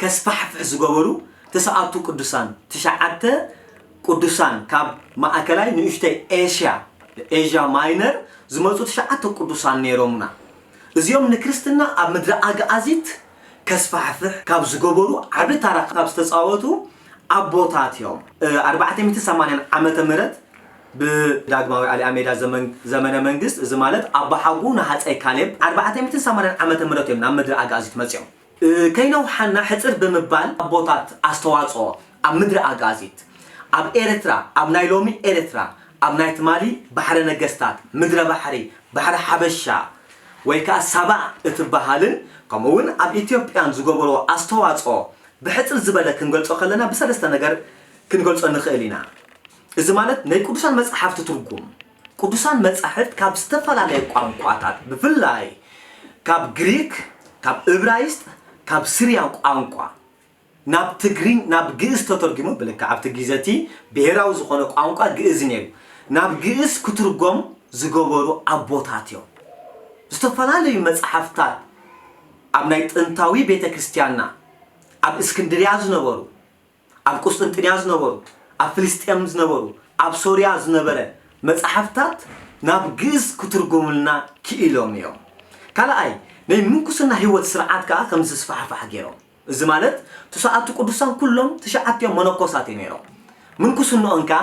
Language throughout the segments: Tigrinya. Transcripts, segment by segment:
ከስፋሕፍሕ ዝገበሩ ትስዓቱ ቅዱሳን፣ ትሽዓተ ቅዱሳን ካብ ማእከላይ ንእሽቶይ ኤሽያ፣ Asia Minor፣ ዝመጹ ትሽዓተ ቅዱሳን ነይሮምና። እዚኦም ንክርስትና ኣብ ምድረ ኣግኣዚት ከስፋሕፍሕ ካብ ዝገበሩ ዓቢ ታራ ካብ ዝተጻወቱ ኣቦታት እዮም። ኣርባዕተ ሚእቲ ሰማንያን ዓመተ ምህረት ብዳግማዊ ኣሊኣሜዳ ዘመን ዘመነ መንግስት እዚ ማለት ኣቦሓጎኡ ንሃጸይ ካሌብ ኣርባዕተ ሚእትን ሰማንያን ዓመተ ምህረት እዮም ናብ ምድረ ኣግኣዚት መጺኦም። ከይነውሓና ሕጽር ብምባል ኣቦታት ኣስተዋጽኦ ኣብ ምድሪ ኣግኣዚት ኣብ ኤርትራ ኣብ ናይ ሎሚ ኤርትራ ኣብ ናይ ትማሊ ባሕረ ነገስታት ምድረ ባሕሪ ባሕሪ ሓበሻ ወይ ከኣ ሳባ እትበሃልን ከምኡ ውን ኣብ ኢትዮጵያን ዝገበርዎ ኣስተዋጽኦ ብሕጽር ዝበለ ክንገልጾ ከለና ብሰለስተ ነገር ክንገልጾ ንኽእል ኢና እዚ ማለት ነይ ቅዱሳን መጽሓፍቲ ትርጉም ቅዱሳን መጻሕፍት ካብ ዝተፈላለየ ቋንቋታት ብፍላይ ካብ ግሪክ፣ ካብ እብራይስጥ፣ ካብ ስርያን ቋንቋ ናብ ትግርኝ ናብ ግእዝ ተተርጒሞም ብልክዕ ኣብቲ ጊዘ እቲ ብሄራዊ ዝኾነ ቋንቋ ግእዝ ነይሩ ናብ ግእዝ ክትርጎም ዝገበሩ ኣቦታት እዮም። ዝተፈላለዩ መጻሕፍታት ኣብ ናይ ጥንታዊ ቤተ ክርስትያንና ኣብ እስክንድርያ ዝነበሩ፣ ኣብ ቍስጥንጥንያ ዝነበሩ፣ ኣብ ፍልስጤም ዝነበሩ፣ ኣብ ሶርያ ዝነበረ መጻሕፍታት ናብ ግእዝ ክትርጉምልና ክኢሎም ኢዮም። ካልኣይ፣ ናይ ምንኩስና ህይወት ስርዓት ከኣ ከም ዝስፋሕፋሕ ገይሮም። እዚ ማለት ትስዓቱ ቅዱሳን ኩሎም ትሽዓቲኦም መነኮሳት ኢዮም ነይሮም። ምንኩስንኦም ከኣ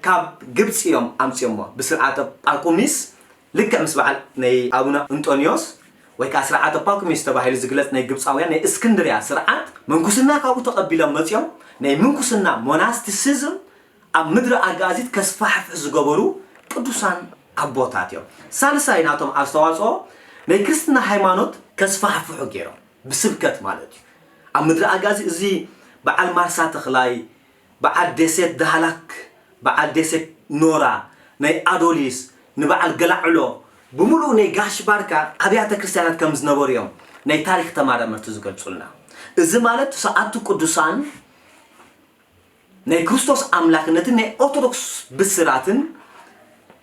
ካብ ግብጺ ኢዮም ኣምጺኦሞ፣ ብስርዓተ ጳኩሚስ ልክዕ ምስ በዓል ናይ ኣቡነ እንጦንዮስ ወይ ከኣ ስርዓተ ጳኩሚስ ተባሂሉ ዝግለጽ ናይ ግብጻውያን ናይ እስክንድርያ ስርዓት ምንኩስና ካብኡ ተቐቢሎም መጺኦም ናይ ምንኩስና፣ Monasticism፣ ኣብ ምድረ ኣጋእዚት ከስፋሕፍሑ ዝገበሩ ቅዱሳን ኣቦታት እዮም። ሳልሳይ ናቶም ኣስተዋጽኦ ናይ ክርስትና ሃይማኖት ከስፋሕፍሑ ገይሮም ብስብከት ማለት እዩ። ኣብ ምድረ ኣጋዚ እዚ በዓል ማርሳ ተኽላይ፣ በዓል ዴሴት ዳህላክ በዓል ዴሴት ኖራ ናይ ኣዶሊስ ንበዓል ገላዕሎ ብምሉኡ ናይ ጋሽ ባርካ ኣብያተ ክርስትያናት ከም ዝነበሩ እዮም ናይ ታሪክ ተማራመርቲ ዝገልጹልና እዚ ማለት ትስዓቱ ቅዱሳን ናይ ክርስቶስ ኣምላክነትን ናይ ኦርቶዶክስ ብስራትን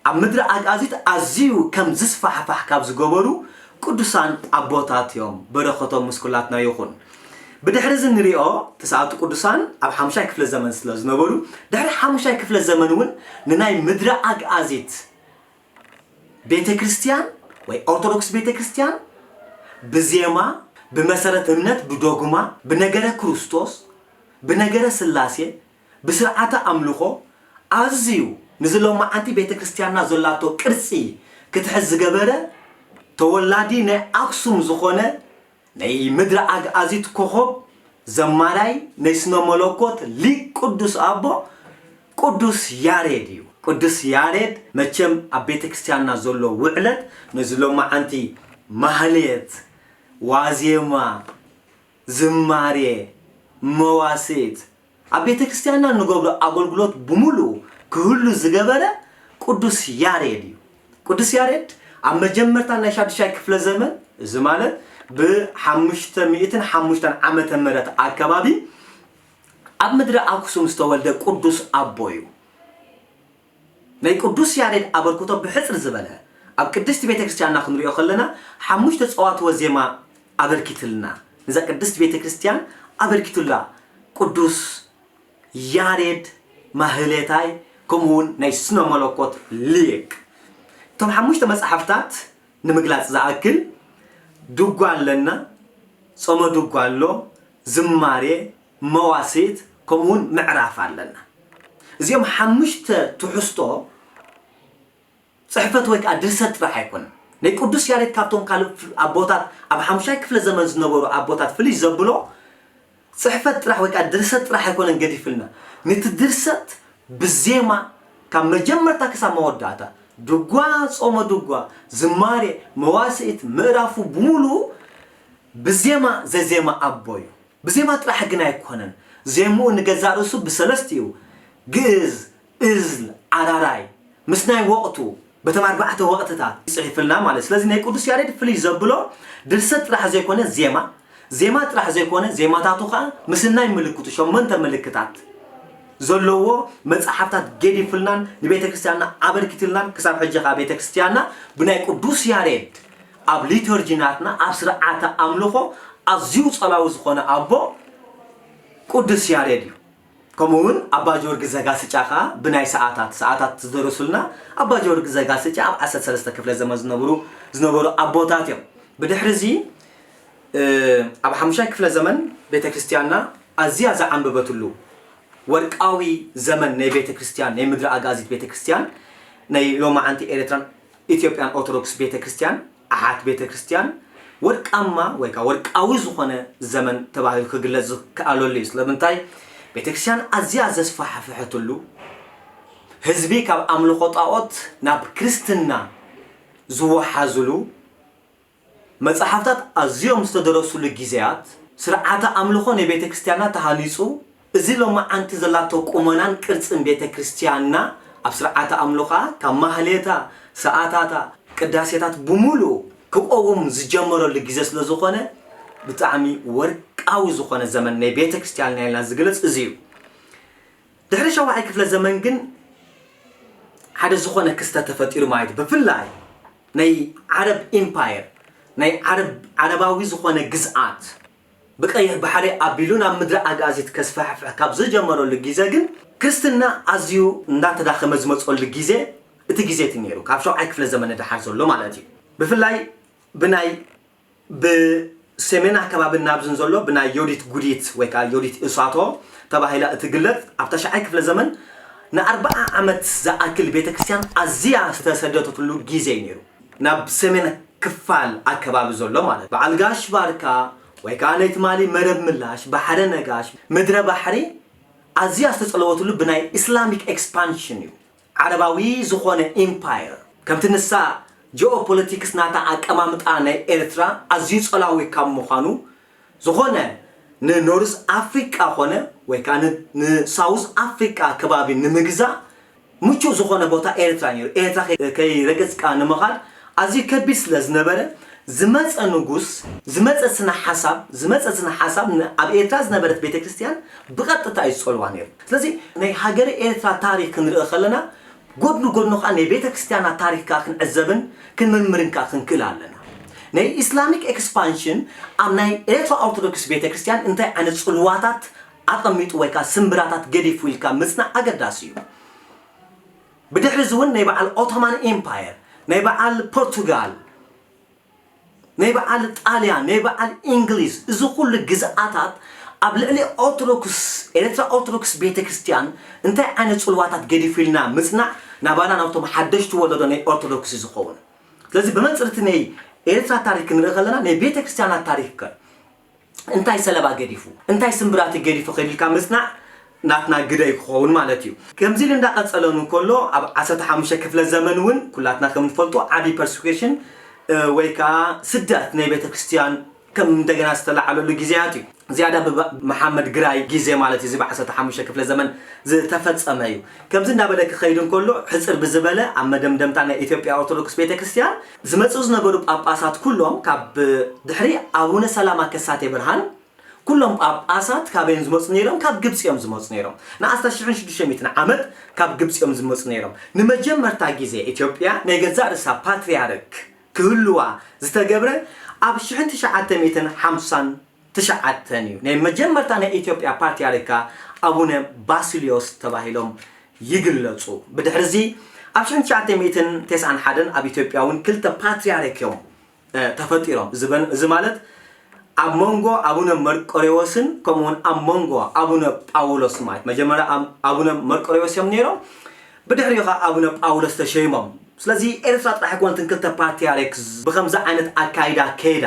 ኣብ ምድሪ ኣግኣዚት ኣዝዩ ከም ዝስፋሕፋሕ ካብ ዝገበሩ ቅዱሳን ኣቦታት እዮም በረከቶም ምስ ኩላትና ይኹን። ብድሕሪ እዚ ንሪኦ ትስዓቱ ቅዱሳን ኣብ ሓሙሻይ ክፍለ ዘመን ስለ ዝነበሩ ድሕሪ ሓሙሻይ ክፍለ ዘመን እውን ንናይ ምድረ ኣግኣዚት ቤተክርስትያን ወይ ኦርቶዶክስ ቤተክርስትያን ብዜማ ብመሰረት እምነት ብዶግማ ብነገረ ክርስቶስ ብነገረ ስላሴ ብስርዓተ ኣምልኾ ኣዝዩ ንዚ ሎማዓንቲ ቤተ ክርስትያንና ዘላቶ ቅርጺ ክትሕዝ ዝገበረ ተወላዲ ናይ ኣክሱም ዝኾነ ናይ ምድረ ኣግኣዚት ኮኾብ ዘማራይ ናይ ስነ መለኮት ሊቅ ቅዱስ ኣቦ ቅዱስ ያሬድ እዩ። ቅዱስ ያሬድ መቸም ኣብ ቤተ ክርስትያንና ዘሎ ውዕለት ነዚ ሎማዓንቲ ማህሌት፣ ዋዜማ፣ ዝማሬ፣ መዋሥዕት፣ ኣብ ቤተክርስቲያንና እንገብሮ ኣገልግሎት ብምሉኡ ክህሉ ዝገበረ ቅዱስ ያሬድ እዩ። ቅዱስ ያሬድ ኣብ መጀመርታ ናይ ሻዱሻይ ክፍለ ዘመን እዚ ማለት ብ ሓሙሽተ ሚእትን ሓሙሽተን ዓመተ ምህረት ኣከባቢ ኣብ ምድሪ ኣክሱም ዝተወልደ ቅዱስ ኣቦ እዩ። ናይ ቅዱስ ያሬድ ኣበርክቶ ብሕጽር ዝበለ ኣብ ቅድስቲ ቤተ ክርስቲያንና ክንሪኦ ከለና ሓሙሽተ ጸዋትወ ዜማ ኣበርኪትልና ንዛ ቅድስቲ ቤተ ክርስቲያን ኣበርኪቱላ ቅዱስ ያሬድ ማህሌታይ ከምኡ ውን ናይ ስነ መለኮት ሊቅ እቶም ሓሙሽተ መጻሕፍታት ንምግላጽ ዝኣክል ድጓ ኣለና ጾመ ድጓ ኣሎ ዝማሬ መዋስት ከምኡ ውን ምዕራፍ ኣለና። እዚኦም ሓሙሽተ ትሕዝቶ ጽሕፈት ወይ ከኣ ድርሰት ጥራሕ ኣይኮነን። ናይ ቅዱስ ያሬድ ካብቶም ካልእ ኣቦታት ኣብ ሓሙሻይ ክፍለ ዘመን ዝነበሩ ኣቦታት ፍልይ ዘብሎ ጽሕፈት ጥራሕ ወይ ከኣ ድርሰት ጥራሕ ኣይኮነን ገዲፍልና። ነቲ ድርሰት ብዜማ ካብ መጀመርታ ክሳብ መወዳእታ ድጓ፣ ጾመ ድጓ፣ ዝማሬ፣ መዋስእት፣ ምእራፉ ብምሉኡ ብዜማ ዘዜመ ኣቦ እዩ። ብዜማ ጥራሕ ግን ኣይኮነን፣ ዜምኡ ንገዛእ ርእሱ ብሰለስቲኡ፣ ግእዝ፣ እዝል፣ ኣራራይ፣ ምስ ናይ ወቕቱ፣ በቶም ኣርባዕተ ወቕትታት፣ ጽሒፍልና ማለት'ዩ። ስለዚ ናይ ቅዱስ ያሬድ ፍልይ ዘብሎ ድርሰት ጥራሕ ዘይኮነ ዜማ፣ ዜማ ጥራሕ ዘይኮነ ዜማታቱ ከኣ ምስናይ ምልክቱ፣ ሸሞንተ ምልክታት፣ ዘለዎ መጽሓፍታት ገዲፍልናን ንቤተክርስትያንና ኣበርኪትልናን ክሳብ ሕጂ ከኣ ቤተክርስትያንና ብናይ ቅዱስ ያሬድ ኣብ ሊቶርጂ ናትና ኣብ ስርዓተ ኣምልኾ ኣዝዩ ጸላዊ ዝኾነ ኣቦ ቁዱስ ያሬድ እዩ ከምኡ ውን ኣባ ጆርጊ ዘጋስጫ ከኣ ብናይ ሰኣታት ሰኣታት ዝደረሱልና ኣባ ጆርጊ ዘጋስጫ ኣብ ዓሰርተ ሰለስተ ክፍለ ዘመን ዝነብሩ ዝነበሩ ኣቦታት እዮም ብድሕሪ እዚ ኣብ ሓሙሻይ ክፍለ ዘመን ቤተ ክርስቲያንና ኣዝያ ዝዓንበበትሉ ወርቃዊ ዘመን ናይ ቤተ ክርስቲያን ናይ ምድሪ ኣጋዚት ቤተ ክርስቲያን ናይ ሎማዓንቲ ኤርትራን ኢትዮጵያን ኦርቶዶክስ ቤተ ክርስቲያን ኣሓት ቤተ ክርስቲያን ወርቃማ ወይ ከኣ ወርቃዊ ዝኾነ ዘመን ተባሂሉ ክግለጽ ዝከኣለሉ እዩ። ስለምንታይ ቤተ ክርስቲያን ኣዝያ ዘስፋሕፈሐትሉ ህዝቢ ካብ ኣምልኾ ጣኦት ናብ ክርስትና ዝወሓዝሉ መጽሓፍታት ኣዝዮም ዝተደረሱሉ ጊዜያት፣ ስርዓተ ኣምልኾ ናይ ቤተ ክርስቲያንና ተሃኒጹ፣ እዚ ሎማዓንቲ ዘላቶ ቁመናን ቅርጽን ቤተ ክርስቲያንና ኣብ ስርዓተ ኣምልኾኣ ካብ ማህሌታ፣ ሰኣታታ፣ ቅዳሴታት ብምሉኡ ክቆውም ዝጀመረሉ ጊዜ ስለ ዝኾነ ብጣዕሚ ወርቃዊ ዝኾነ ዘመን ናይ ቤተ ክርስቲያንና ኢልና ዝግለጽ እዚ እዩ። ድሕሪ ሻውዓይ ክፍለ ዘመን ግን ሓደ ዝኾነ ክስተት ተፈጢሩ ማለት እዩ። ብፍላይ ናይ ዓረብ ኢምፓየር፣ ናይ ዓረብ ዓረባዊ ዝኾነ ግዝኣት፣ ብቀይሕ ባሕሪ ኣቢሉ ናብ ምድሪ ኣግኣዚት ከስፋሕፍሕ ካብ ዝጀመረሉ ጊዘ ግን፣ ክርስትና ኣዝዩ እንዳተዳኸመ ዝመጸሉ ጊዘ እቲ ጊዘ እቲ ነይሩ፣ ካብ ሻውዓይ ክፍለ ዘመን ንደሓር ዘሎ ማለት እዩ። ብፍላይ ብናይ። ብሰሜን ኣከባቢ ናብዝን ዘሎ ብናይ ዮዲት ጉዲት ወይ ከኣ ዮዲት እሳቶ ተባሂላ እትግለጽ ኣብ ታሽዓይ ክፍለ ዘመን ንኣርብዓ ዓመት ዝኣክል ቤተ ክርስቲያን ኣዚያ ዝተሰደተትሉ ጊዜ እዩ ነይሩ። ናብ ሰሜን ክፋል ኣከባቢ ዘሎ ማለት በዓል ጋሽ ባርካ ወይ ከኣ ናይ ትማሊ መረብ ምላሽ ባሕረ ነጋሽ ምድረ ባሕሪ ኣዚያ ዝተጸለወትሉ ብናይ ኢስላሚክ ኤክስፓንሽን እዩ። ዓረባዊ ዝኾነ ኢምፓየር ከምቲ ንሳ ጂኦፖለቲክስ ናታ ኣቀማምጣ ናይ ኤርትራ ኣዝዩ ጸላዊ ካብ ምዃኑ ዝኾነ ንኖርዝ ኣፍሪቃ ኮነ ወይ ከኣ ን ንሳውዝ ኣፍሪቃ ከባቢ ንምግዛእ ምቹእ ዝኾነ ቦታ ኤርትራ ኔሩ ኤርትራ ከይረገጽካ ንምኻድ ኣዝዩ ከቢድ ስለ ዝነበረ፣ ዝመጸ ንጉስ፣ ዝመጸ ስነ ሓሳብ፣ ዝመጸ ስነ ሓሳብ ን ኣብ ኤርትራ ዝነበረት ቤተ ክርስትያን ብቐጥታ እዩ ዝጸልዋ ነይሩ። ስለዚ ናይ ሃገረ ኤርትራ ታሪኽ ክንርኢ ከለና ጎድኑ ጎድኑ ከኣ ናይ ቤተ ክርስትያና ታሪኽ ከኣ ክንዕዘብን ክንምርምርን ከኣ ክንክእል ኣለና። ናይ ኢስላሚክ ኤክስፓንሽን ኣብ ናይ ኤርትራ ኦርቶዶክስ ቤተ ክርስትያን እንታይ ዓይነት ጽልዋታት ኣቐሚጡ ወይ ከኣ ስምብራታት ገዲፉ ኢልካ ምጽናዕ ኣገዳሲ እዩ። ብድሕሪ እዚ እውን ናይ በዓል ኦቶማን ኤምፓየር፣ ናይ በዓል ፖርቱጋል፣ ናይ በዓል ጣልያን፣ ናይ በዓል ኢንግሊዝ እዚ ኩሉ ግዝኣታት ኣብ ልዕሊ ኦርቶዶክስ ኤርትራ ኦርቶዶክስ ቤተ ክርስትያን እንታይ ዓይነት ጽልዋታት ገዲፉልና ምጽናዕ ናባና ናብቶም ሓደሽቲ ወለዶ ናይ ኦርቶዶክስ እዩ ዝኸውን። ስለዚ ብመንጽር እቲ ናይ ኤርትራ ታሪክ ክንርኢ ከለና ናይ ቤተ ክርስትያና ታሪክ ከ? እንታይ ሰለባ ገዲፉ እንታይ ስምብራቲ ገዲፉ ከዲልካ ምጽናዕ ናትና ግደ እዩ ክኸውን ማለት እዩ። ከምዚ ኢሉ እንዳቀጸለን ውን ከሎ ኣብ ዓሰርተ ሓሙሽተ ክፍለ ዘመን ውን ኩላትና ከም ንፈልጦ ዓቢ ፐርስኩሽን ወይ ከኣ ስደት ናይ ቤተክርስትያን ከም እንደገና ዝተላዓለሉ ግዜያት እዩ። ዝያዳ ብ መሓመድ ግራይ ግዜ ማለት እዩ እዚ ብ ዓሰርተ ሓሙሽተ ክፍለ ዘመን ዝተፈጸመ እዩ። ከምዚ እንዳበለ ክኸይድ እንከሎ ሕጽር ብዝበለ ኣብ መደምደምታ ናይ ኢትዮጵያ ኦርቶዶክስ ቤተክርስትያን ዝመጽኡ ዝነበሩ ጳጳሳት ኩሎም ካብ ድሕሪ ኣቡነ ሰላማ ከሳቴ ብርሃን ኩሎም ጳጳሳት ካበይ እዮም ዝመጹ ነይሮም ካብ ግብጺ እዮም ዝመጹ ነይሮም ንኣስታት ሽሕን ሽዱሽተ ሚእትን ዓመት ካብ ግብጺ እዮም ዝመጹ ነይሮም ንመጀመርታ ግዜ ኢትዮጵያ ናይ ገዛእ ርእሳ ፓትርያርክ ክህልዋ ዝተገብረ ኣብ ሽሕን ትሽዓተ ሚእትን ሓምሳን ትሽዓተ እዩ። ናይ መጀመርታ ናይ ኢትዮጵያ ፓትርያርካ ኣቡነ ባስልዮስ ተባሂሎም ይግለጹ። ብድሕርዚ ኣብ ሽሕን ትሽዓተ ሚእትን ቴስዓን ሓደን ኣብ ኢትዮጵያ እውን ክልተ ፓትርያርክ እዮም ተፈጢሮም። እዚ ማለት ኣብ መንጎ ኣቡነ መርቆሬዎስን ከምኡ እውን ኣብ መንጎ ኣቡነ ጳውሎስ ማለት መጀመርያ ኣቡነ መርቆሬዎስ እዮም ነይሮም ብድሕሪኡ ከዓ ኣቡነ ጳውሎስ ተሸይሞም። ስለዚ ኤርትራ ጥራሕ ኣይኮነትን ክልተ ፓትርያርክ ብከምዚ ዓይነት ኣካይዳ ከይዳ።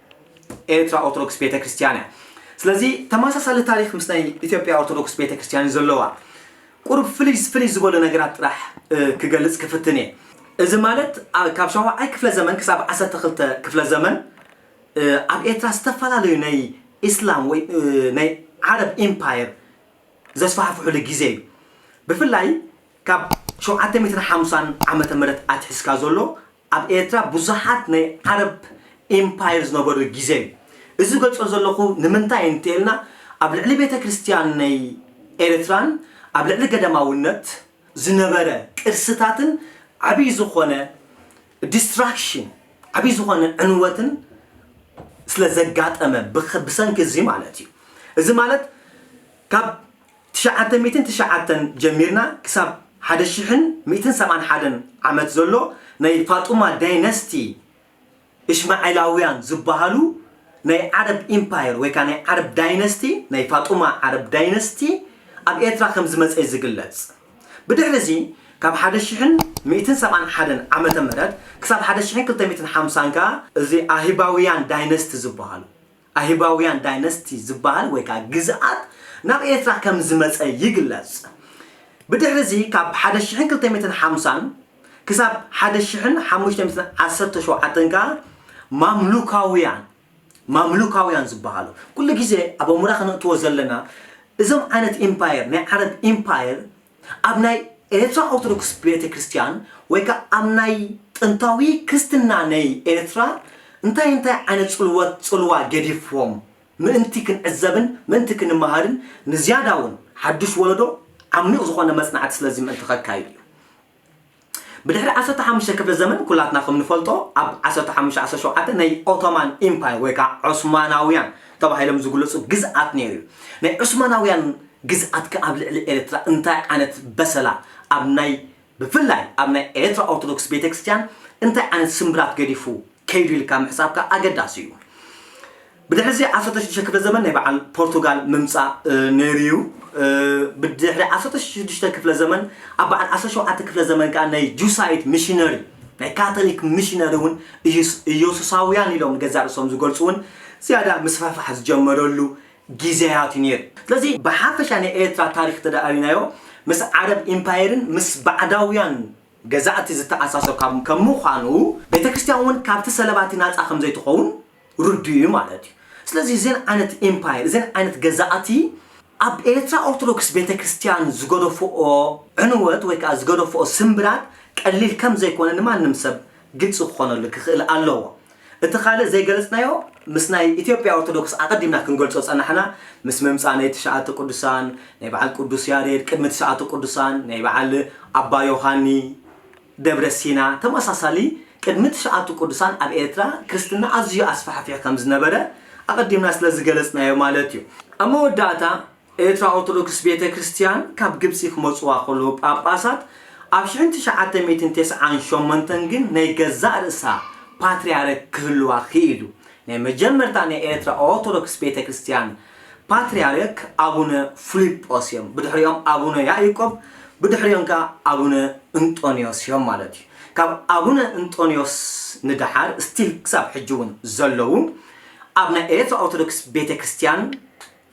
ኤርትራ ኦርቶዶክስ ቤተክርስትያን እያ። ስለዚ ተመሳሳሊ ታሪኽ ምስ ናይ ኢትዮጵያ ኦርቶዶክስ ቤተክርስትያን እዩ ዘለዋ። ቁሩብ ፍልይ ፍልይ ዝበሉ ነገራት ጥራሕ ክገልጽ ክፍትን እየ። እዚ ማለት ካብ ሻውዓይ ክፍለ ዘመን ክሳብ ዓሰርተ ክልተ ክፍለ ዘመን ኣብ ኤርትራ ዝተፈላለዩ ናይ ኢስላም ወይ ናይ ዓረብ ኢምፓየር ዘስፋሕፍሕሉ ግዜ እዩ። ብፍላይ ካብ ሸውዓተ ሚእትን ሓምሳን ዓመተ ምህረት ኣትሒዝካ ዘሎ ኣብ ኤርትራ ብዙሓት ናይ ዓረብ ኢምፓየር ዝነበሩ ግዜ እዩ። እዚ ዝገልጾ ዘለኹ ንምንታይ እንተኢልና ኣብ ልዕሊ ቤተክርስትያን ናይ ኤርትራን ኣብ ልዕሊ ገዳማውነት ዝነበረ ቅርስታትን ዓቢ ዝኾነ ዲስትራክሽን ዓቢ ዝኾነ ዕንወትን ስለ ዘጋጠመ ብሰንኪ እዚ ማለት እዩ። እዚ ማለት ካብ ትሽዓተ ሚእትን ትሽዓተን ጀሚርና ክሳብ ሓደ ሽሕን ሚእትን ሰብዓን ሓደን ዓመት ዘሎ ናይ ፋጡማ ዳይነስቲ እሽማዒላውያን ዝባሃሉ ናይ ዓረብ ኢምፓየር ወይ ከኣ ናይ ዓረብ ዳይነስቲ ናይ ፋጡማ ዓረብ ዳይነስቲ ኣብ ኤርትራ ከም ዝመጸ እዩ ዝግለጽ። ብድሕሪ እዚ ካብ ሓደ ሽሕን ሚእትን ሰብዓን ሓደን ዓመተ ምህረት ክሳብ ሓደ ሽሕን ክልተ ሚእትን ሓምሳን ከኣ እዚ ኣህባውያን ዳይነስቲ ዝባሃሉ ኣህባውያን ዳይነስቲ ዝበሃል ወይ ከኣ ግዝኣት ናብ ኤርትራ ከም ዝመጸ ይግለጽ። ብድሕሪዚ ካብ ሓደ ሽሕን ክልተ ሚእትን ሓምሳን ክሳብ ሓደ ሽሕን ሓሙሽተ ሚእትን ዓሰርተ ሸውዓተን ከኣ ማምሉካውያን ማምሉካውያን ዝበሃሉ ኩሉ ግዜ ኣብ ኣእሙራ ከነእትዎ ዘለና እዞም ዓይነት ኢምፓየር ናይ ዓረብ ኢምፓየር ኣብ ናይ ኤርትራ ኦርቶዶክስ ቤተ ክርስትያን ወይ ከኣ ኣብ ናይ ጥንታዊ ክርስትና ነይ ኤርትራ እንታይ እንታይ ዓይነት ጽልወት ጽልዋ ገዲፍዎም ምእንቲ ክንዕዘብን ምእንቲ ክንመሃርን ንዝያዳውን ሓዱሽ ወለዶ ዓሚቕ ዝኾነ መጽናዕቲ ስለዚ ምእንቲ ከካይድ እዩ። ብድሕሪ ዓሰርተ ሓሙሽተ ክፍለ ዘመን ኩላትና ከም ንፈልጦ ኣብ ዓሰርተ ሓሙሽተ ዓሰርተ ሸውዓተ ናይ ኦቶማን ኢምፓየር ወይ ከኣ ዑስማናውያን ተባሂሎም ዝግለጹ ግዝኣት ነይሩ እዩ። ናይ ዑስማናውያን ግዝኣት ከኣ ኣብ ልዕሊ ኤርትራ እንታይ ዓይነት በሰላ ኣብ ናይ ብፍላይ ኣብ ናይ ኤርትራ ኦርቶዶክስ ቤተክርስቲያን እንታይ ዓይነት ስምብራት ገዲፉ ከይዱ ኢልካ ምሕሳብ ከኣ ኣገዳሲ እዩ። ብድሕሪ እዚ ዓሰርተ ሽዱሽተ ክፍለ ዘመን ናይ በዓል ፖርቱጋል ምምጻእ ነይሩ እዩ። ብድሕሪ ዓሰርተ ሽዱሽተ ክፍለ ዘመን ኣብ በዓል ዓሰርተ ሸውዓተ ክፍለ ዘመን ከኣ ናይ ጁሳይት ሚሽነሪ ናይ ካቶሊክ ሚሽነሪ እውን ኢየሱሳውያን ኢሎም ንገዛእ ርእሶም ዝገልጹ እውን ዝያዳ ምስፍሕፋሕ ዝጀመረሉ ግዜያት እዩ ነይሩ። ስለዚ ብሓፈሻ ናይ ኤርትራ ታሪኽ እንተደኣ ሪእናዮ ምስ ዓረብ ኢምፓየርን ምስ ባዕዳውያን ገዛእቲ ዝተኣሳሶ ካብ ከም ምዃኑ ቤተ ክርስቲያን እውን ካብቲ ሰለባቲ ናጻ ከም ዘይትኸውን ርዱእ እዩ ማለት እዩ። ስለዚ እዘን ዓይነት ኢምፓየር እዘን ዓይነት ገዛእቲ ኣብ ኤርትራ ኦርቶዶክስ ቤተ ክርስቲያን ዝገደፍኦ ዕንወት ወይ ከኣ ዝገደፍኦ ስምብራት ቀሊል ከም ዘይኮነ ንማንም ሰብ ግልጺ ክኾነሉ ክኽእል ኣለዎ። እቲ ካልእ ዘይገለጽናዮ ምስ ናይ ኢትዮጵያ ኦርቶዶክስ ኣቐዲምና ክንገልጾ ዝጸናሕና ምስ ምምጻእ ናይ ትሽኣተ ቅዱሳን ናይ በዓል ቅዱስ ያሬድ ቅድሚ ትሽኣተ ቅዱሳን ናይ በዓል ኣባ ዮሃኒ ደብረ ሲና ተመሳሳሊ ቅድሚ ትሽኣቱ ቅዱሳን ኣብ ኤርትራ ክርስትና ኣዝዩ ኣስፋሕፊሑ ከምዝነበረ ኣቐዲምና ስለዝገለጽናዮ ማለት እዩ። ኣብ መወዳእታ ኤርትራ ኦርቶዶክስ ቤተ ክርስትያን ካብ ግብጺ ክመጽዋ ከለዉ ጳጳሳት ኣብ ሽሕን ትሽዓተ ሚእትን ተስዓን ሸሞንተን ግን ናይ ገዛእ ርእሳ ፓትርያርክ ክህልዋ ክኢሉ። ናይ መጀመርታ ናይ ኤርትራ ኦርቶዶክስ ቤተ ክርስትያን ፓትርያርክ ኣቡነ ፍሊጶስ እዮም። ብድሕሪኦም ኣቡነ ያኢቆብ ብድሕሪኦም ከኣ ኣቡነ እንጦንዮስ እዮም ማለት እዩ። ካብ ኣቡነ እንጦንዮስ ንደሓር ስቲል ክሳብ ሕጂ እውን ዘለዉ ኣብ ናይ ኤርትራ ኦርቶዶክስ ቤተ ክርስትያን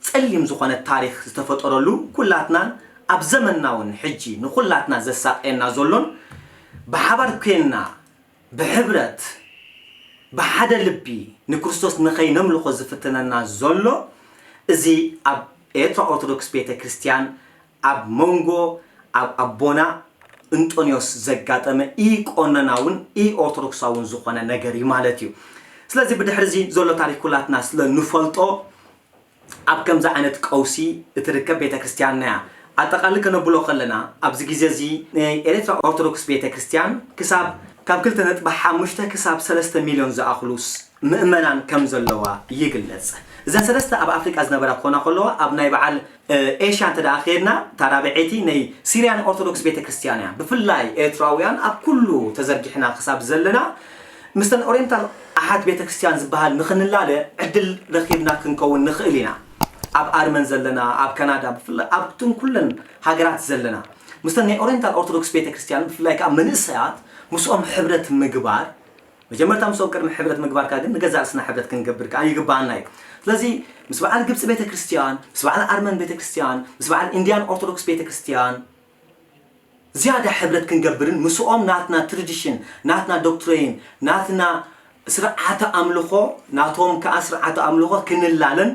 ጸሊም ዝኾነ ታሪኽ ዝተፈጠረሉ ኩላትናን ኣብ ዘመንና ውን ሕጂ ንኹላትና ዘሳቅየና ዘሎን ብሓባር ኮይንና ብሕብረት ብሓደ ልቢ ንክርስቶስ ንኸይነምልኾ ዝፍትነና ዘሎ እዚ ኣብ ኤርትራ ኦርቶዶክስ ቤተ ክርስትያን ኣብ መንጎ ኣብ ኣቦና እንጦንዮስ ዘጋጠመ ኢ-ቆኖናውን ኢ-ኦርቶዶክሳውን ዝኾነ ነገር እዩ ማለት እዩ። ስለዚ ብድሕሪ እዚ ዘሎ ታሪኽ ኩላትና ስለ ንፈልጦ ኣብ ከምዚ ዓይነት ቀውሲ እትርከብ ቤተ ክርስቲያንና እያ። ኣጠቓሊ ከነብሎ ከለና ኣብዚ ግዜ እዚ ናይ ኤርትራ ኦርቶዶክስ ቤተ ክርስቲያን ክሳብ ካብ ክልተ ነጥቢ ሓሙሽተ ክሳብ ሰለስተ ሚልዮን ዝኣኽሉ ምእመናን ከም ዘለዋ ይግለጽ። እዘን ሰለስተ ኣብ ኣፍሪቃ ዝነበራ ክኾና ከለዋ ኣብ ናይ በዓል ኤሽያ እንተ ደኣ ኬድና እታ ራብዐይቲ ነይ ሲርያን ኦርቶዶክስ ቤተ ክርስትያን እያ። ብፍላይ ኤርትራውያን ኣብ ኩሉ ተዘርጊሕና ክሳብ ዘለና ምስተን ኦሬንታል ኣሓት ቤተ ክርስትያን ዝበሃል ንክንላለ ዕድል ረኪብና ክንከውን ንክእል ኢና። ኣብ ኣርመን ዘለና ኣብ ካናዳ ብፍላይ ኣብተን ኩለን ሃገራት ዘለና ምስተን ናይ ኦሬንታል ኦርቶዶክስ ቤተ ክርስትያን ብፍላይ ከኣ መንእሰያት ምስኦም ሕብረት ምግባር መጀመርታ ምስኦም ቅድሚ ሕብረት ምግባርካ ግን ንገዛእ ርእስና ሕብረት ክንገብር ከኣ ይግብኣና እዩ። ስለዚ ምስ በዓል ግብጺ ቤተ ክርስትያን፣ ምስ በዓል ኣርመን ቤተ ክርስትያን፣ ምስ በዓል ኢንድያን ኦርቶዶክስ ቤተ ክርስትያን ዝያዳ ሕብረት ክንገብርን ምስኦም ናትና ትርድሽን፣ ናትና ዶክትረይን፣ ናትና ስርዓተ ኣምልኾ ናቶም ከኣ ስርዓተ ኣምልኾ ክንላለን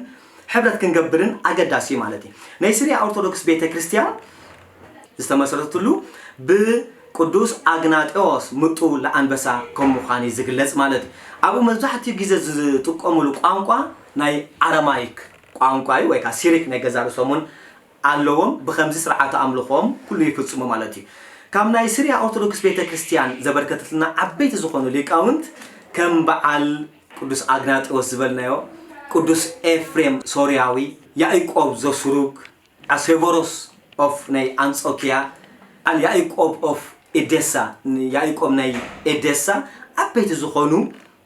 ሕብረት ክንገብርን ኣገዳሲ እዩ ማለት እዩ። ናይ ስርያ ኦርቶዶክስ ቤተ ክርስትያን ዝተመስረትሉ ብቅዱስ ኣግናጤዎስ ምጡው ለኣንበሳ ከም ምዃን እዩ ዝግለጽ ማለት እዩ። ኣብኡ መብዛሕትኡ ግዜ ዝጥቀምሉ ቋንቋ ናይ ኣረማይክ ቋንቋ እዩ፣ ወይ ከኣ ሲሪክ ናይ ገዛእ ርእሶም እውን ኣለዎም፣ ብኸምዚ ስርዓተ ኣምልኾኦም ኩሉ ይፍጽሙ ማለት እዩ። ካብ ናይ ስርያ ኦርቶዶክስ ቤተ ክርስቲያን ዘበርከተትልና ዓበይቲ ዝኾኑ ሊቃውንት ከም በዓል ቅዱስ ኣግናጤዎስ ዝበልናዮ፣ ቅዱስ ኤፍሬም ሶርያዊ፣ ያእቆብ ዘሱሩግ፣ a Severos of ናይ ኣንጾኪያ ኣል ያኢቆብ of Edessa ን ያኢቆብ ናይ ኤዴሳ ዓበይቲ ዝኾኑ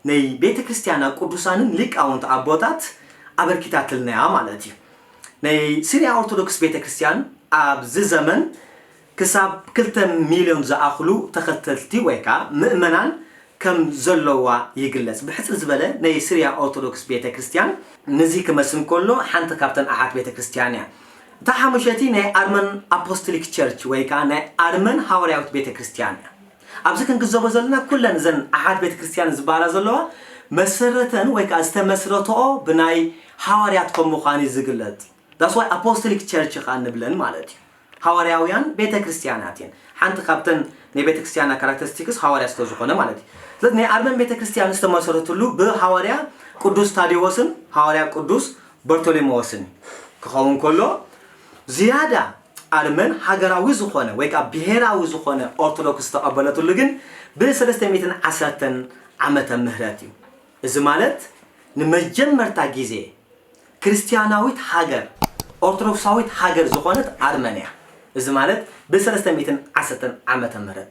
ነይ ቤተ ክርስቲያና ቅዱሳንን ሊቃውንት ኣቦታት ኣበርኪታትልና እያ ማለት እዩ ነይ ሲርያ ኦርቶዶክስ ቤተ ክርስቲያን ኣብዚ ዘመን ክሳብ ክልተ ሚልዮን ዝኣኽሉ ተኸተልቲ ወይ ከኣ ምእመናን ከም ዘለዋ ይግለጽ። ብሕጽር ዝበለ ናይ ስርያ ኦርቶዶክስ ቤተ ክርስትያን ነዚ ክመስል ከሎ ሓንቲ ካብተን ኣሓት ቤተ ክርስትያን እያ። እታ ሓሙሸቲ ናይ ኣርመን ኣፖስትሊክ ቸርች ወይ ከኣ ናይ ኣርመን ሃዋርያዊት ቤተ ክርስትያን እያ። ኣብዚ ክንግዘቦ ዘለና ኩለን እዘን ኣሓት ቤተ ክርስትያን ዝበሃላ ዘለዋ መሰረተን ወይ ከኣ ዝተመስረተኦ ብናይ ሃዋርያት ከም ምዃን እዩ ዝግለጽ። That's why ኣፖስትሊክ ቸርች ከኣ ንብለን ማለት እዩ። ሃዋርያውያን ቤተ ክርስትያናት እየን። ሓንቲ ካብተን ናይ ቤተ ክርስትያና ካራክተሪስቲክስ ሃዋርያ ስለ ዝኾነ ማለት እዩ። ስለዚ ናይ ኣርመን ቤተ ክርስትያን ዝተመሰረትሉ ብሃዋርያ ቅዱስ ታዴዎስን ሃዋርያ ቅዱስ በርቶሊሞዎስን እዩ። ክኸውን ከሎ ዝያዳ ኣርመን ሃገራዊ ዝኾነ ወይ ከዓ ብሄራዊ ዝኾነ ኦርቶዶክስ ዝተቐበለትሉ ግን ብ ሰለስተ ሚእትን ዓሰርተን ዓመተ ምህረት እዩ። እዚ ማለት ንመጀመርታ ግዜ ክርስትያናዊት ሃገር ኦርቶዶክሳዊት ሃገር ዝኾነት ኣርመንያ እዚ ማለት ብ ሰለስተ ሚእትን ዓሰርተን ዓመተ ምህረት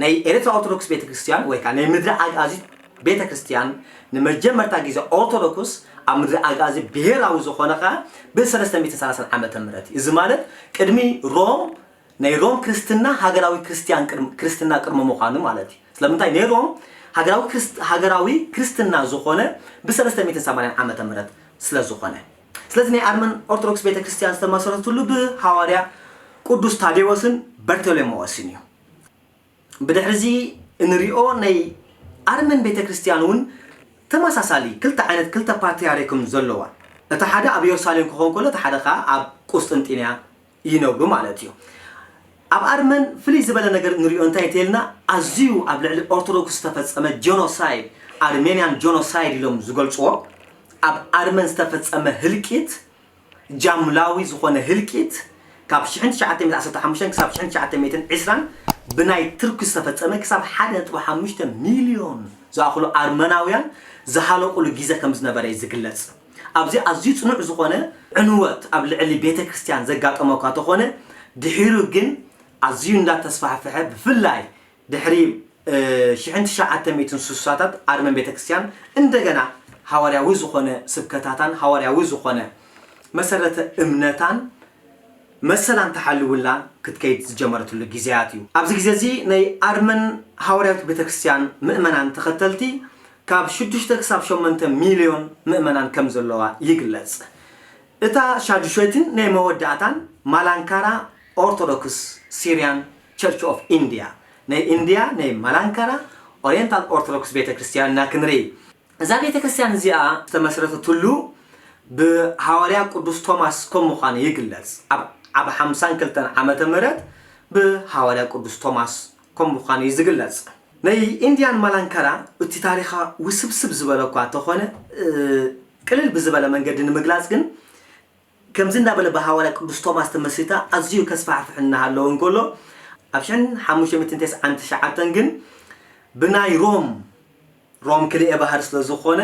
ናይ ኤርትራ ኦርቶዶክስ ቤተ ክርስትያን ወይ ከኣ ናይ ምድረ ኣግኣዚት ቤተ ክርስትያን ንመጀመርታ ግዜ ኦርቶዶክስ ኣብ ምድረ ኣግኣዚት ብሄራዊ ዝኾነ ከኣ ብ ሰለስተ ሚእትን ሰላሳን ዓመተ ምህረት እዩ እዚ ማለት ቅድሚ ሮም ናይ ሮም ክርስትና ሃገራዊ ክርስትያን ቅድሚ ክርስትና ቅድሚ ምዃኑ ማለት እዩ። ስለምንታይ ናይ ሮም ሃገራዊ ክርስት ሃገራዊ ክርስትና ዝኾነ ብሰለስተ ሚእትን ሰማንያን ዓመተ ምህረት ስለ ዝኾነ። ስለዚ ናይ ኣርመን ኦርቶዶክስ ቤተ ክርስትያን ዝተመሰረትሉ ብሃዋርያ ቅዱስ ታዴዎስን በርተሎሜዎስን እዩ። ብድሕሪ እዚ እንሪኦ ናይ ኣርመን ቤተ ክርስትያን እውን ተመሳሳሊ ክልተ ዓይነት ክልተ ፓትርያርክም ዘለዋ እቲ ሓደ ኣብ የሩሳሌም ክኸውን ከሎ እቲ ሓደ ከኣ ኣብ ቁስጥንጢንያ ይነብሩ ማለት እዩ። ኣብ ኣርመን ፍልይ ዝበለ ነገር እንሪኦ እንታይ እተይልና ኣዝዩ ኣብ ልዕሊ ኦርቶዶክስ ዝተፈፀመ ጆኖሳይድ ኣርሜንያን ጆኖሳይድ ኢሎም ዝገልፅዎ ኣብ ኣርመን ዝተፈፀመ ህልቂት ጃምላዊ ዝኾነ ህልቂት ካብ ሽሕን ትሽዓተ ሚእትን ዓሰርተ ሓሙሽተን ክሳብ ሽሕን ትሽዓተ ሚእትን ዕስራን ብናይ ትርኪ ዝተፈፀመ ክሳብ ሓደ ነጥቢ ሓሙሽተ ሚልዮን ዝኣኽሉ ኣርመናውያን ዝሃለቑሉ ጊዘ ከምዝነበረ እዩ ዝግለፅ። ኣብዚ ኣዝዩ ጽኑዕ ዝኾነ ዕንወት ኣብ ልዕሊ ቤተክርስትያን ዘጋጠሞ እኳ ተኾነ ድሒሩ ግን ኣዝዩ እንዳ ተስፋሕፈሐ ብፍላይ ድሕሪ ሽሕን ትሽዓተ ሚእትን ስሳታት ኣርመን ቤተክርስትያን እንደገና ሃዋርያዊ ዝኾነ ስብከታታን ሃዋርያዊ ዝኾነ መሰረተ እምነታን መሰላን ተሓልውላ ክትከይድ ዝጀመረትሉ ግዜያት እዩ። ኣብዚ ግዜ እዚ ናይ ኣርመን ሃዋርያዊት ቤተክርስትያን ምእመናን ተኸተልቲ ካብ ሽዱሽተ ክሳብ ሸሞንተ ሚልዮን ምእመናን ከም ዘለዋ ይግለጽ። እታ ሻዱሾይትን ናይ መወዳእታን ማላንካራ ኦርቶዶክስ ሲርያን ቸርች ኦፍ ኢንድያ፣ ናይ ኢንድያ ናይ ማላንካራ ኦርየንታል ኦርቶዶክስ ቤተ ክርስትያን ኢና ክንርኢ። እዛ ቤተ ክርስትያን እዚኣ ዝተመስረተትሉ ብሃዋርያ ቅዱስ ቶማስ ከም ምዃኑ ይግለጽ። ኣብ ኣብ ሓምሳን ክልተን ዓመተ ምህረት ብሃዋርያ ቅዱስ ቶማስ ከም ምዃኑ እዩ ዝግለጽ። ናይ ኢንዲያን ማላንካራ እቲ ታሪኻ ውስብስብ ዝበለ እኳ እተኾነ ቅልል ብዝበለ መንገዲ ንምግላጽ ግን ከምዚ እንዳበለ ብሃዋርያ ቅዱስ ቶማስ ተመስሪታ ኣዝዩ ከስፋሕፍሕ እናሃለወ እንከሎ ኣብ ሽሕን ሓሙሽተ ሚእትን ተስዓን ትሽዓተን ግን ብናይ ሮም ሮም ክልኤ ባህር ስለ ዝኾነ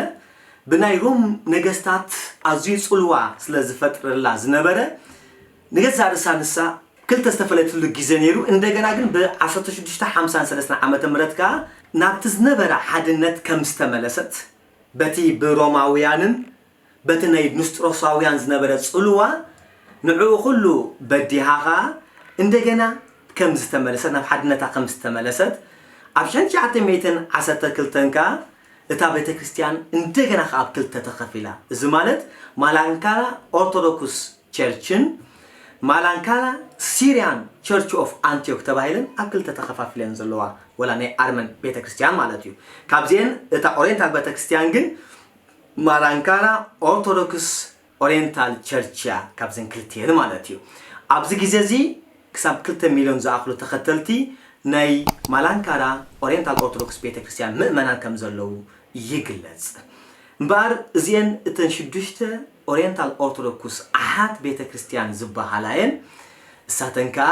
ብናይ ሮም ነገስታት ኣዝዩ ጽልዋ ስለ ዝፈጥረላ ዝነበረ ንገዛእ ርእሳ ንሳ ክልተ ዝተፈለየትሉ ግዜ ነይሩ እንደገና ግን ብ ዓሰርተ ሽዱሽተ ሓምሳን ሰለስተን ዓመተ ምህረት ከኣ ናብቲ ዝነበራ ሓድነት ከም ዝተመለሰት በቲ ብሮማውያንን በቲ ናይ ንስጥሮሳውያን ዝነበረ ጽልዋ ንዕኡ ኩሉ በዲሃ ከኣ እንደገና ከም ዝተመለሰት ናብ ሓድነታ ከም ዝተመለሰት ኣብ ሽሕን ትሽዓተ ሚእትን ዓሰርተ ክልተን ከኣ እታ ቤተክርስትያን እንደገና ከኣ ብ ክልተ ተኸፊላ እዚ ማለት ማላንካላ ኦርቶዶኩስ ቸርችን ማላንካላ ሲርያን ቸርች ኦፍ ኣንቲዮክ ተባሂለን ኣብ ክልተ ተኸፋፊለን ዘለዋ ወላ ናይ ኣርመን ቤተክርስትያን ማለት እዩ ካብዚኤን እታ ኦሬንታል ቤተክርስትያን ግን ማላንካና ኦርቶዶክስ ኦሬንታል ቸርች እያ ካብዘን ክልቲኤን ማለት እዩ። ኣብዚ ግዜ እዚ ክሳብ ክልተ ሚልዮን ዝኣኽሉ ተኸተልቲ ናይ ማላንካራ ኦሬንታል ኦርቶዶክስ ቤተ ክርስትያን ምእመናን ከም ዘለዉ ይግለጽ። እምበኣር እዚኤን እተን ሽዱሽተ ኦሬንታል ኦርቶዶኩስ ኣሓት ቤተ ክርስትያን ዝበሃላ እየን። እሳተን ከኣ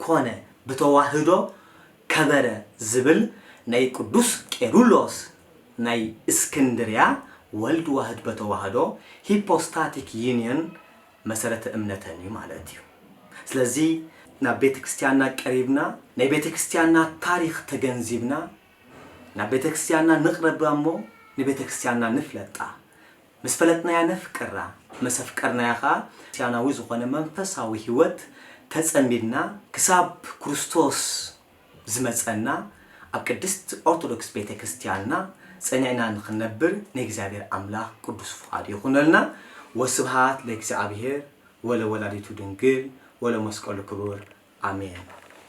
ኮነ ብተዋህዶ ከበረ ዝብል ናይ ቅዱስ ቄሩሎስ ናይ እስክንድርያ ወልድ ዋህድ በተዋህዶ ሂፖስታቲክ ዩኒዮን መሰረተ እምነተን እዩ ማለት እዩ። ስለዚ ናብ ቤተ ክርስቲያንና ቀሪብና ናይ ቤተ ክርስቲያንና ታሪኽ ተገንዚብና ናብ ቤተ ክርስቲያንና ንቕረብ እሞ ንቤተ ክርስቲያንና ንፍለጣ ምስ ፈለጥናያ ነፍቅራ፣ መስ ኣፍቀርናያ ከኣ ክርስትያናዊ ዝኾነ መንፈሳዊ ሕይወት ተጸሚድና ክሳብ ክርስቶስ ዝመጸና ኣብ ቅድስት ኦርቶዶክስ ቤተ ክርስትያንና ጸኒዕና ንኽንነብር ናይ እግዚኣብሔር ኣምላኽ ቅዱስ ፍቓዱ ይኹነልና ወስብሃት ለእግዚኣብሔር ወለወላዲቱ ድንግል ወለመስቀሉ ክቡር ኣሜን።